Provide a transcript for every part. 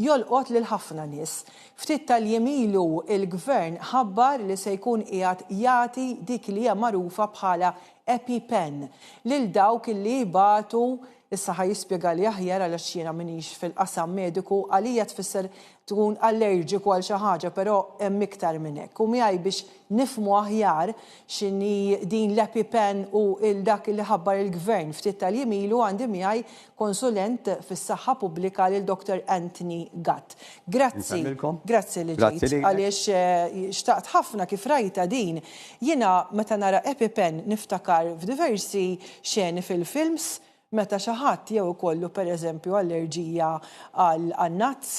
jolqot lil ħafna nies. Ftit tal-jiem ilu l-Gvern ħabbar li se jkun qiegħed jagħti dik li hija magħrufa bħala EpiPen lil dawk li jbatu, issa ħa jispjegali aħjar għalax jiena m'iniex fil-qasam mediku, għalija tfisser tkun allerġiku għal xi ħaġa però hemm iktar minn hekk u miegħi biex nifhmu aħjar x'inhi din l-EpiPen u il dak li ħabbar il-Gvern ftit tal-jiem ilu għandi miegħi Konsulent fis-Saħħa Pubblika lil Doctor Anthony Gatt. Grazzi, grazzi li ġejt għaliex xtaqt ħafna kif rajtha din. Jiena meta nara EpiPen niftakar f'diversi xeni fil-films meta xi ħadd jew ikollu pereżempju allerġija għan-nuts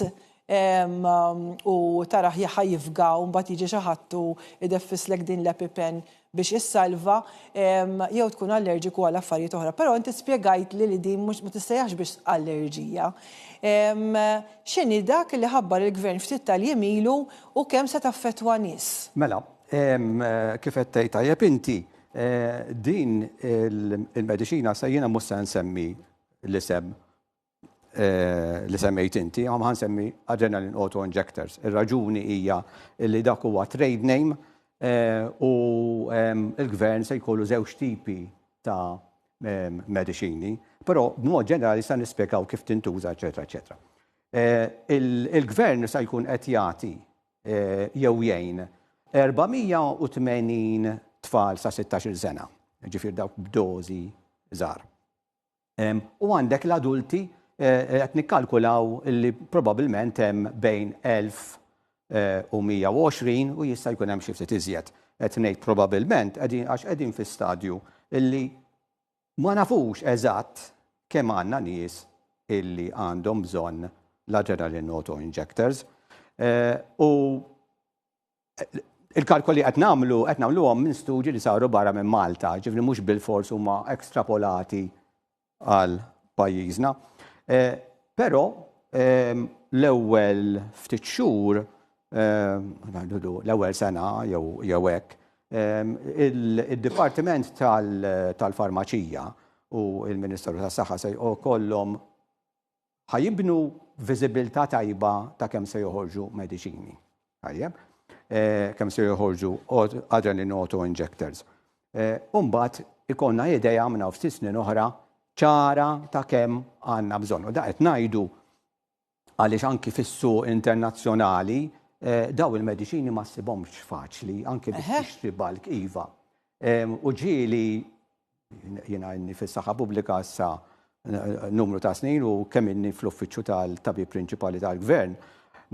u tarah jaħa jifga u mbagħad jiġi xi ħadd u jdeffislek din l-EpiPen biex issalva jew tkun allerġiku għal affarijiet oħra. Però inti spjegajtli li din mhux ma tissejjaħx biss allerġija. X'inhi dak li ħabbar il-Gvern ftit tal-jiem ilu u kemm se taffettwa nies? Mela, kif qed tgħid tajjeb inti, din il-mediċina se jiena mhux se nsemmi l-isem li semmejt inti, għam għan semmi adrenaline auto injectors. Il-raġuni hija li dak huwa trade name u il-gvern se jkollu żewġ tipi ta' mediċini, però b'mod ġenerali sa' nispjegaw kif tintuża, eċetera, eċetera. Il-gvern sa' jkun qed jagħti jew jgħin 480 tfal sa' 16-il sena, ġifieri dawk b'dożi żgħar. U għandek l-adulti, qed nikkalkulaw li probabbilment hemm bejn 1,120 u jista' jkun hemm xi ftit iżjed. Qed ngħid probabbilment għax qegħdin fi stadju li ma nafux eżatt kemm għandna nies illi għandhom bżonn l-adrenaline auto-injectors. U il-kalkoli qed nagħmlu qed nagħmluhom minn studji li saru barra minn Malta, ġifri mhux bil-fors huma ekstrapolati għal pajjiżna. Eh, però ehm, l-ewwel ftit xhur ehm, l-ewwel sena jew hekk ehm, il-Dipartiment tal-Farmaċija u il-Ministeru tas-Saħħa se kollhom ħa jibnu viżibilità tajba ta' kemm se joħorġu mediċini. Tajjeb? Eh, kemm se joħorġu adrenaline auto injectors. Eh, Umbat ikonna idea minna ftit snin oħra ċara ta' kemm għandna bżonn. U da qed ngħidu għaliex anki fissu internazzjonali eh, daw il-mediċini ma ssibhomx faċli anki biex tixtri balk iva. U ġieli Jiena inni fis-saħħa pubblika issa numru ta' snin u kemm inni fl-uffiċċju tal-Tabib Prinċipali tal-Gvern,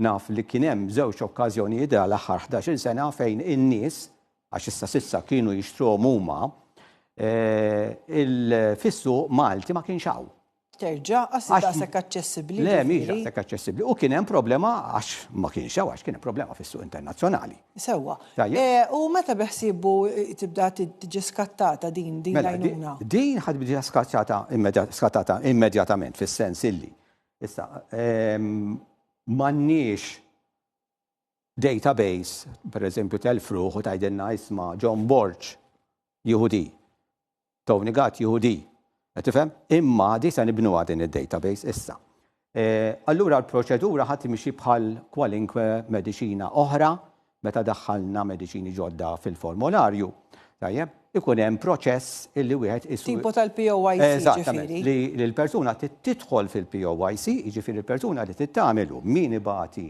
naf li kien hemm żewġ okkażjonijiet għal aħħar 11-il sena fejn in-nies, għax issa s'issa kienu jixtruhom huma, il-fis-suq Malti ma kienx hawn. Terġa', għax hi daqshekk aċċessibbli. Le, mhix daqshekk aċċessibbli. U kien hemm problema għax ma kienx hawn għax kien hemm problema fis-suq internazzjonali. Sewwa. Eh, u meta beħsiebu eh, tibda tiġi skattata din din mela, l-għajnuna? Din ħad biġi skattata skattata immedjatament fis-sens illi. Issa, ehm, m'għandniex database, per eżempju, tal-fruħ u tajdinna jisma' John Borg, jihudi. Tony Gatt jieħu di. Qed tifhem? Imma di se nibnuha din id-database issa. Allura l-proċedura ħa timxi bħal kwalinkwe mediċina oħra, meta daħħalna mediċini ġodda fil-formolarju, tajjeb, ikun hemm proċess illi wieħed isu. Tipo tal-POIC ġifieri. Eżattament, li l-persuna trid tidħol fil-POIC, jiġifieri l-persuna li trid tagħmel hu min ibati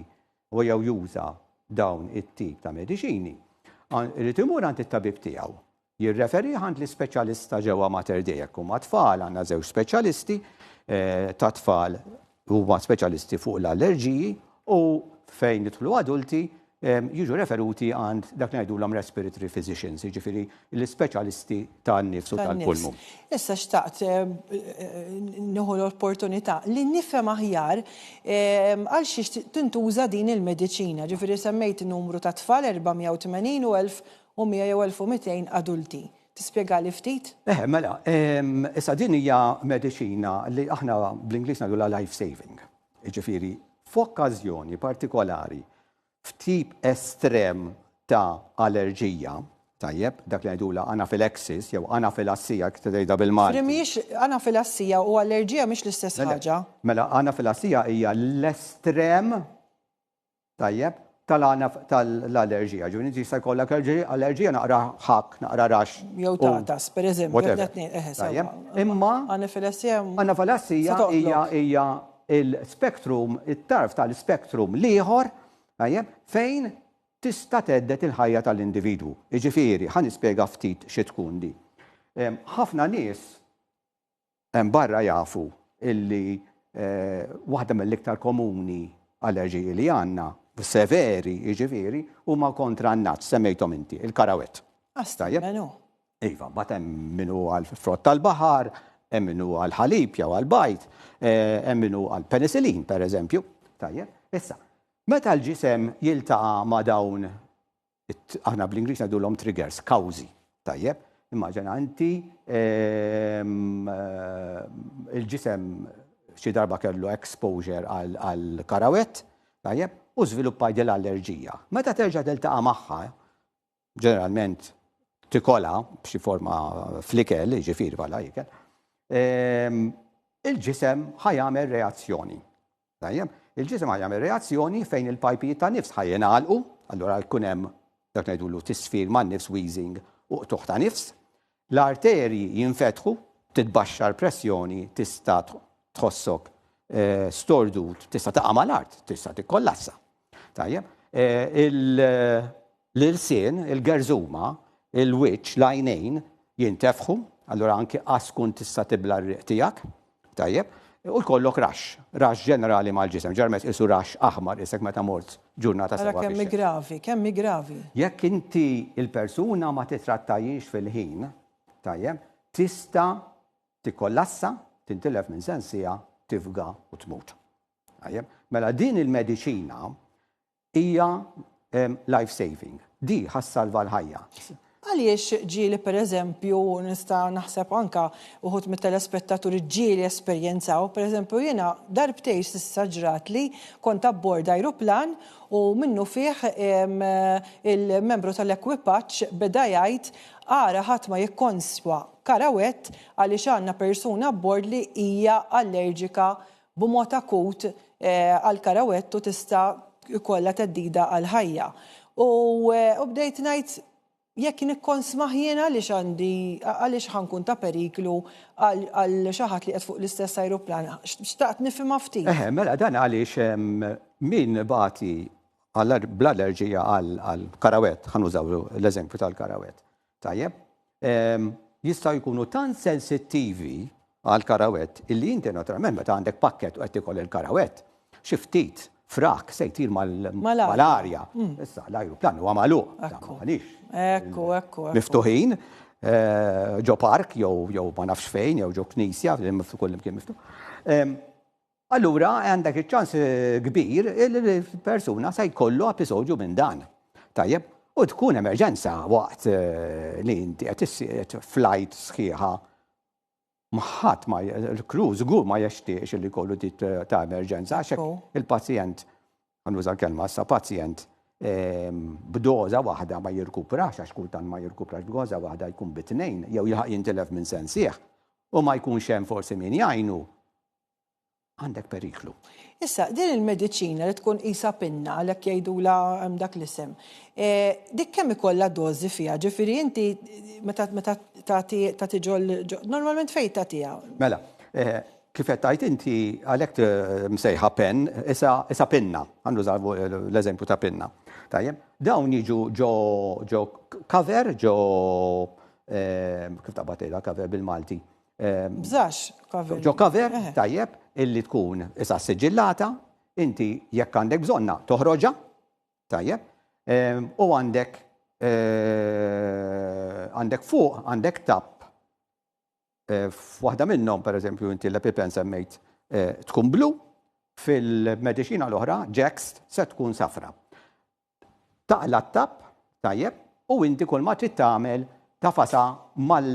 u jew juża dawn it-tip ta' mediċini, irid imur għand it-tabib tiegħu Jirreferih għand l-ispeċjalista ġewwa Mater Dei. Jekk huma tfal għandna żewġ speċjalisti tat-tfal huma speċjalisti fuq l-allerġiji u fejn jidħlu adulti jiġu referuti għand dak li ngħidulhom respiratory physicians, jiġifieri l-ispeċjalisti tan-nifs u tal-pulmun. Issa xtaqt nieħu l-opportunità li nifhem aħjar għal xiex tintuża din il-mediċina. Ġifieri semmejt numru ta' tfal 480 u 1,000 U 100 jew 1200 adulti. Tispjegali ftit? Eħe, mela. Issa din hija mediċina li aħna bl-Ingliż ngħidulha life saving. Jiġifieri f'okkażjoni partikolari, f'tip estrem ta' allerġija, tajjeb, dak li ngħidulha anaphylaxis jew anafilassija jekk tgħidha bil-Malti. Mhijiex, anafilassija u allerġija mhix l-istess ħaġa. Mela, anafilassija hija l-estrem Tajjeb, tal-għanaf tal-allerġija. Ġifieri inti jista' jkollok allerġija naqra ħakk, naqra raxx. Jew tagħtas, pereżempju, waħda mit-tnejn, eħe, sewa. Tajjeb, imma. Anafilessija. Anafilessija hija, hija l-spektrum, it-tarf tal-spektrum l-ieħor, tajjeb, fejn tista' thedded il-ħajja tal-individwu. Jiġifieri, ħa nispjega ftit xi tkun din. Ħafna nies Hemm barra jafu illi waħda mill-iktar komuni allerġiji li għandna, severi jiġifieri, huma kontra n-nagħaġ, semmejthom inti, il-karawett. Tajjeb. Iva, mbagħad hemm min hu għall-frott tal-baħar, hemm min hu għall-ħalib jew għall-bajd, hemm min hu għall-penisilin, pereżempju. Tajjeb. Issa, meta l-ġisem jiltaqa' ma' dawn Aħna bl-Ingliż ngħidulhom triggers, kawżi. Tajjeb? Immaġina inti ehm, il-ġisem xi darba kellu exposure għal karawet, tajjeb, u żviluppaj dil allerġija. Meta terġa' tiltaqa' magħha, ġeneralment tikola b'xi forma flikel, ġifir bħala jikel, ehm, il-ġisem ħajamel reazzjoni. Tajjeb, il-ġisem ħa jagħmel reazzjoni fejn il-pajpijiet tan-nifs ħa jingħalqu, allura ħa jkun hemm dak li ngħidulu tisfir man-nifs, wheezing, u qtugħ ta' nifs. L-arterji jinfetħu, titbaxxar pressjoni, tista' tħossok stordut, tista' taqa' mal-art, tista' tikkollassa. Tajjeb, l-ilsien, il-gerżuma, il-wiċċ, l-għajnejn jintefħu, allura anki qas tkun tista' tibla r-riq tiegħek. Tajjeb, u jkollok rax, rax ġenerali mal-ġisem, ġeneralment qisu rax aħmar isek meta mort ġurnata sewwa. Ara kemm gravi, kemm gravi. Jekk inti l-persuna ma titrattajiex fil-ħin, tajjeb, tista' tikkollassa, tintilef minn sensiha, tifga u tmut. Tajjeb, mela din il-mediċina hija life saving. Di ħa ssalva l-ħajja. Għaliex ġieli pereżempju nista' naħseb anke uħud mit-telespettaturi ġieli esperjenzaw, pereżempju jiena darbtejn s'issa ġratli kont abbord ajruplan u minnufih il-membru tal-ekwipaġġ beda jgħid ara ħadd ma jikkonswa karawett għaliex għandna persuna abbord li hija allerġika b'mod akut għal karawett u tista' jkollha theddida għall-ħajja. U bdejt ngħid jekk nikkonsmah jien għaliex għandi għaliex ħa nkun ta' periklu għal xi ħadd li qed fuq l-istess ajruplan. Xtaqt nifhimha ftit. Eħe, mela dan għaliex min ibati bl-allerġija għall-karawett, ħa nużaw l-eżempju tal-karawett, Tajjeb. Jistgħu jkunu tant sensittivi għall-karawett illi inti naturalment meta għandek pakkett u qed tiekol il-karawett, xi ftit frak se jtir mal-arja. Issa, l-ajruplan huwa magħluq, ma ħaliex. Miftuħin, ġo park jew ma nafx fejn, jew ġo knisja, kullimkien miftuħ. Allura għandek iċ-ċans kbir li persuna se jkollu episodju minn dan. Tajjeb, u tkun emerġenza waqt li inti qed issiet flajt sħiħa maħħat ma l-crew żgur ma jextiex li kollu tit ta' emerġenza għax il-pazjent nuża l-kelma sa pazjent b'doża waħda ma jirkuprax għax kultant ma jirkuprax b'doża waħda jkun bitnejn jew jilħaq jintilef minn sensih u ma jkunx hemm forsi min jgħinu Għandek periklu. Issa, din il-mediċina li tkun qisha pinna, għalhekk jgħidulha hemm dak l-isem, dik kemm ikollha dożi fiha? Ġifieri inti meta tagħti tagħti ġol normalment fejn tagħtiha? Mela, kif qed tgħid inti għalhekk msejħa pen, qisha pinna. Ħa nuża l-eżempju ta' pinna. Tajjeb? Dawn jiġu ġo ġo cover, ġo kif taqbad tgħidha cover bil-Malti? Bżax, cover. Ġo cover, tajjeb, illi tkun isa siġillata, inti jekk għandek bżonna toħroġa, tajjeb, ehm, u għandek eh, għandek fuq, għandek tap. Eh, f'waħda minnhom, per eżempju, inti l-epipen semmejt eh, tkun blu, fil-medicina l-oħra, ġekst, se tkun safra. Taqla' t-tapp, tajjeb, u inti kull ma trid tagħmel tafasha mal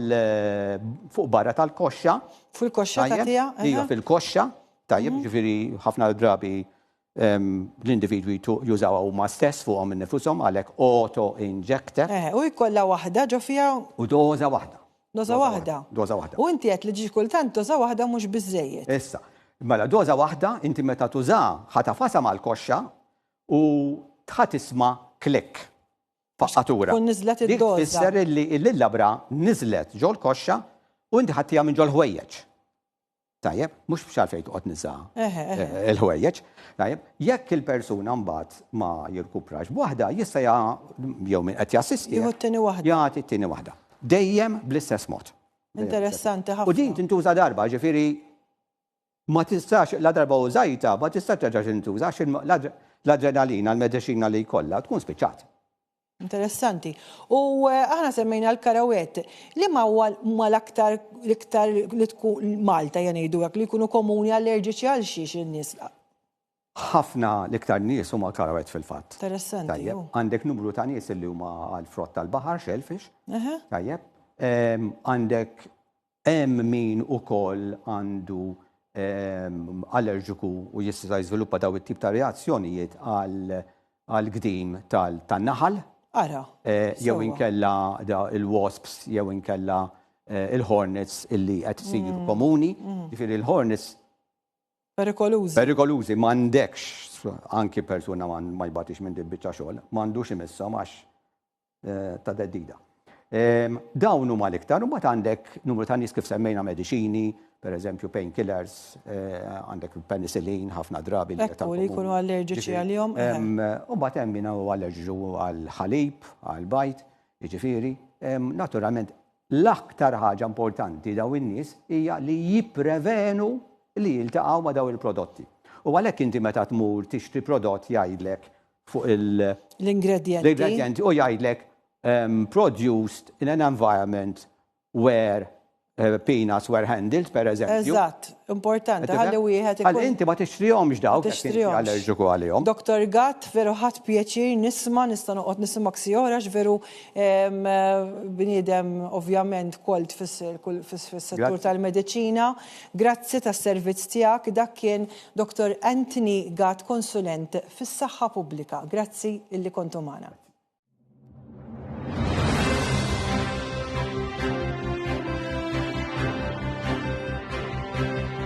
fuq barra tal-koxxa. Fil-koxxa ta' tiegħha? Iva, fil-koxxa, tajjeb, ġifieri ħafna drabi l-individwi jużawha huma stess fuqhom innifushom għalhekk auto injector. Eħe, u jkollha waħda ġo fiha? U doża waħda. Doża waħda? Doża waħda. U inti għedt li xi kultant doża waħda mhux biżżejjed. Issa, mela doża waħda inti meta tużaha ħa tafasha mal-koxxa U tħadd ismha klikk, faqqatura. Tkun niżlet id-doża. Dik tfisser li l-labra niżlet ġol-koxxa u inti ħadtiha minn ġol-ħwejjeġ. Tajjeb, mhux biex għalfejn toqgħod niżżagħha il-ħwejjeġ. Tajjeb, jekk il-persuna mbagħad ma jirkuprax b'waħda, jista' jew min qed jassisti. Jieħu t-tieni waħda. Jagħti t-tieni waħda. Dejjem bl-istess mod. Interessanti ħafna. U din tintuża darba, ġifieri Ma tistax, ladarba użajtha, ma tistax terġa' tintuża għax l-adrenalina, l-mediċina li jkollha, tkun spiċċat. Interessanti. U aħna semmejna l-karawett. Liema huma l-aktar l-iktar li tkun Malta ja ngħidu hekk li jkunu komuni allerġiċi għal xiex in-nies? Ħafna l-iktar nies huma l-Karaweċ fil-fatt. Interessanti. Tajjeb, għandek numru ta' nies illi huma għal frott tal-baħar, shellfish. Aha. Tajjeb. Ehm, Għandek hemm min ukoll għandu ehm, allerġiku u jista' jiżviluppa daw it-tip ta' reazzjonijiet għal għal gdim tal- tan-naħal, Ara. eh, jew Sewwa. inkella da- il-wasps jew inkella eh, il-hornets illi qed isiru komuni. Jiġifieri l-hornets Perikolużi. Perikolużi, m'għandekx, anki persuna ma jbatix minn din biċċa xogħol, m'għandux imisshom għax ta' theddida. Dawn huma l-iktar, imbagħad għandek numru ta' nies kif semmejna mediċini, pereżempju pain killers, għandek penicillin ħafna drabi li jkunu. Li jkunu allerġiċi għalihom. Imbagħad hemm min hu allerġiċi għall-ħalib, għall-bajd, jiġifieri naturalment L-aktar ħaġa importanti dawn in-nies hija li jipprevenu li jiltaqgħu ma' dawn il-prodotti. U għalhekk inti meta tmur tixtri prodott jgħidlek fuq il. L-ingredjenti. L-ingredjenti u jgħidlek produced in an environment where peanuts were handled, pereżempju. Eżatt, importanti ħalli wieħed ikun. Ħalli inti ma tixtrihomx dawk għax inti allerġiku għalihom. Dottor Gatt, veru ħadt pjaċir nisma', nista' noqgħod nisimgħek siegħa oħra għax veru Bniedem ovvjament kolt fis-settur tal-mediċina. Grazzi tas-servizz tiegħek. Dak kien Dottor Anthony Gatt Konsulent fis-Saħħa Pubblika. Grazzi illi kontu magħna.